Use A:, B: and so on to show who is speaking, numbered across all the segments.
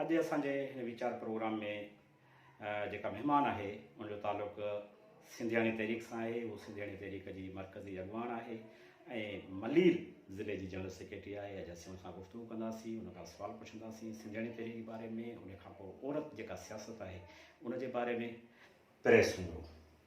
A: اڄ اسان جي هن ويچار پروگرام ۾ جيڪا مهمان آهي ان جو تعلق سنڌياڻي تحريڪ سان آهي، هو سنڌياڻي تحريڪ جي مرڪزي اڳواڻ آهي ۽ ملير ضلعي جي جنرل سيڪريٽري آهي، اڄ اسين ان سان گفتگو ڪنداسين، ان کان سوال پڇنداسين سنڌياڻي تحريڪ جي باري ۾، ان کانپوء عورت جيڪا سياست آهي ان جي باري ۾. پريس هوندو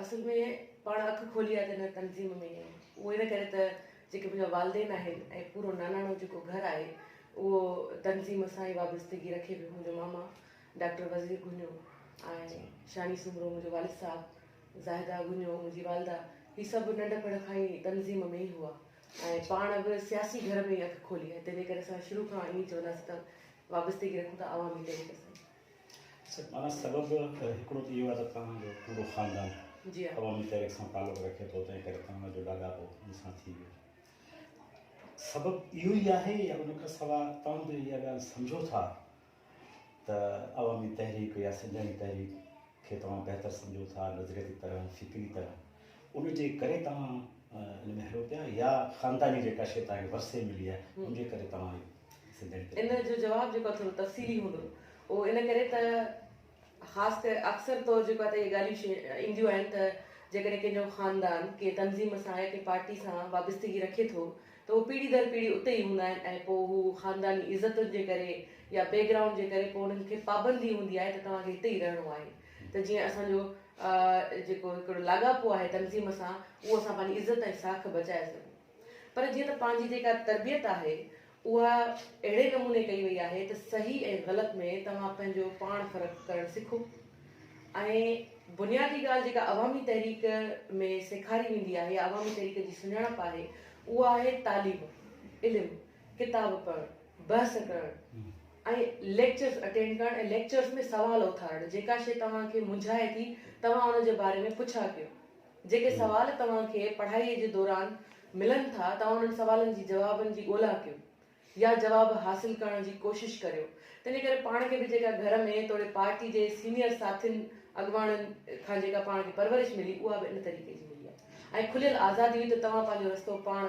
A: اصل ۾
B: پاڻ اک کولي آهي ته هن تنظيم ۾ اهو ان ڪري ته جيڪي منهنجا والدين آهن ۽ پورو ناناڻو جيڪو گهر آهي اهو تنظيم سان ئي وابستگي رکي پيو منهنجو ماما ڊاڪٽر وزير گهنيو ۽ شاني سومرو منهنجو والد صاحب زاهده گهنيو منهنجي والده هي سڀ ننڍپڻ کان ئي تنظيم ۾ ئي هئا ۽ پاڻ به سياسي گهر ۾ ئي اک کولي آهي تنهنجي ڪري اسان شروع کان ائين چونداسين ته وابستگي رکون ٿا عوامي طريقي سان معنيٰ سبب
A: هڪڙو ته اهو آهي ته توهان جو پورو خاندان عوامي
B: تحريڪ سان تعلق
A: رکي ٿو تنهن ڪري توهان جو لاڳاپو ان سان ٿي ويو. سبب اهو ئي آهي يا ان کان سواء توهان به اها ڳالهه سمجهو ٿا ته عوامي تحريڪ يا سنڌياڻي تحريڪ کي توهان بهتر سمجهو ٿا نظرياتي طرح فڪري طرح ان جي ڪري توهان ان ۾ هلو پيا يا خانداني جيڪا شيء توهان کي ورثي ملي آهي ان جي ڪري توهان اهو ان جو جواب جيڪو آهي
B: ٿورو تفصيلي هوندو اهو ان ڪري ته خاص ڪري اڪثر طور جيڪو آهي ته اهي ڳالهيون اينديون آهن ته جيڪڏهن ڪنهن جو خاندان ڪنهن تنظيم سان يا ڪنهن پارٽي سان وابستگي رکي ٿو ته اهي پيڙهي در پيڙهي اتي ئي هوندا آهن ۽ پوء هو خانداني عزتن جي ڪري يا بيڪ گرائونڊ جي ڪري پوء انهن کي پابندي هوندي آهي ته توهان کي هتي ئي رهڻو آهي ته جيئن اسان جو جيڪو هڪڙو لاڳاپو آهي تنظيم سان اهو اسان پنهنجي عزت ۽ ساک بچائي سگهون. پر جيئن ته پنهنجي جيڪا تربيت آهي اها اهڙي نموني ڪئي وئي آهي ته صحيح ۽ غلط ۾ توهان پنهنجو پاڻ فرق ڪرڻ سکو ۽ بنيادي ڳالهه جيڪا عوامي تحريڪ ۾ سيکاري ويندي آهي يا عوامي تحريڪ جي سڃاڻپ آهي اها آهي تعليم علم ڪتاب پڙهڻ بحث ڪرڻ ۽ ليڪچرز اٽينڊ ڪرڻ ۽ ليڪچرز ۾ سوال اٿارڻ جيڪا شيء توهان کي منجهائي ٿي توهان ان جي باري ۾ پڇا ڪيو جيڪي سوال توهان کي پڙهائيء جي دوران ملن ٿا، توهان انهن سوالن جي جوابن جي ڳولا ڪيو يا جواب حاصل ڪرڻ جي ڪوشش ڪريو. تنهنجي ڪري پاڻ کي به جيڪا گهر ۾ توڙي پارٽي جي سينيئر ساٿين اڳواڻن کان جيڪا پاڻ کي پرورش ملي اها به ان طريقي جي ملي آهي ۽ کليل آزادي هئي ته توهان پنهنجو رستو پاڻ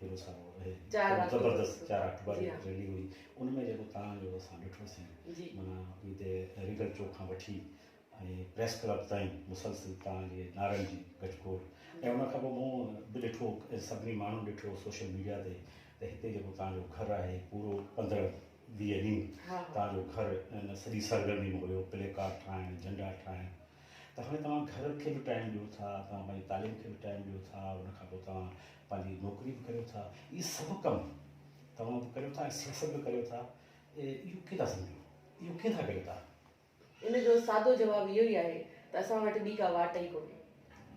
A: ڪيو سارو اهي زبردست چار اڪٽوبر جي ريلي هئي ان ۾ جيڪو تان جو اسان ڏٺو سين مانا اي تي ريگل چوڪ کان وٺي ۽ پريس ڪلب تائين مسلسل تان جي نارن جي گجگوڙ ۽ ان کان پوء مون به ڏٺو سڀني ماڻهو ڏٺو سوشل ميڊيا تي ته هتي جيڪو تان جو گهر آهي پورو پندرهن ويهه ڏينهن تان جو گهر ان سڄي سرگرمي ۾ هيو پلي ڪارڊ ٺاهڻ جنڊا ٺاهڻ ته هاڻي توهان گهر کي به ٽائم ڏيو ٿا توهان پنهنجي تعليم کي به ٽائم ڏيو ٿا ان کان پوء توهان پنهنجي نوڪري به ڪريو ٿا، اهي سڀ ڪم توهان به ڪريو ٿا ۽ سياست به ڪريو ٿا، اهو ڪيئن ٿا سمجهو؟ اهو ڪيئن ٿا ڪريو توهان؟ ان جو
B: سادو جواب اهو ئي آهي ته اسان وٽ ٻي ڪا واٽ ئي ڪونهي.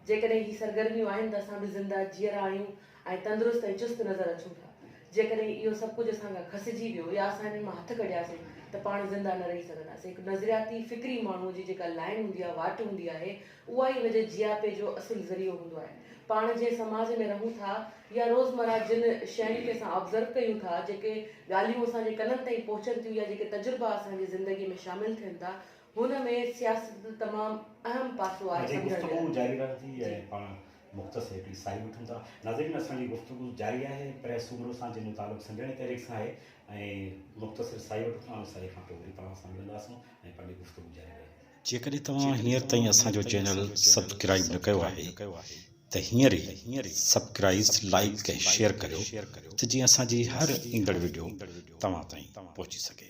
B: جيڪڏهن هي سرگرميون آهن ته اسان به زنده، جيئرا آهيون ۽ تندرست ۽ چست نظر اچون ٿا. جيڪڏهن اهو سڀ ڪجهه اسان کان کسجي ويو يا اسان انهن مان هٿ ڪڍياسين ته پاڻ زنده نه رهي سگهنداسين. هڪ نظرياتي، فڪري ماڻهوء جي جيڪا لائن هوندي آهي، واٽ هوندي آهي، اها ئي هن جي جياپي جو اصل ذريعو هوندو آهي. پاڻ جنهن سماج ۾ رهون ٿا يا روزمره جن شين کي اسان آبزرو ڪيون ٿا، جيڪي ڳالهيون اسان جي ڪنن تائين پهچن ٿيون يا جيڪي تجربا اسان جي زندگي ۾ شامل ٿين ٿا، هن ۾ سياست تمام
A: اهم
B: پاسو
A: آهي
B: سمجهڻ جي لاء. جاري
A: رهندي
B: ۽ جي.
A: پاڻ مختصر هڪڙي ساهي وٺون ٿا. ناظرين اسان جي گفتگو جاري آهي پريس سومرو سان جنهن جو تعلق سنڌياڻي تحريڪ سان آهي ۽ مختصر ساهي وٺون ٿا ان ساهي کان پوء وري پاڻ سان ملنداسون ۽ پنهنجي گفتگو جاري رهندي. جيڪڏهن توهان هينئر تائين اسان جو چينل سبڪرائيب نه ڪيو آهي ته هينئر ئي سبڪرائيز لائيڪ ۽ شيئر ڪريو ته جيئن اسان جي هر ايندڙ وڊيو توهان تائين پهچي سگهي.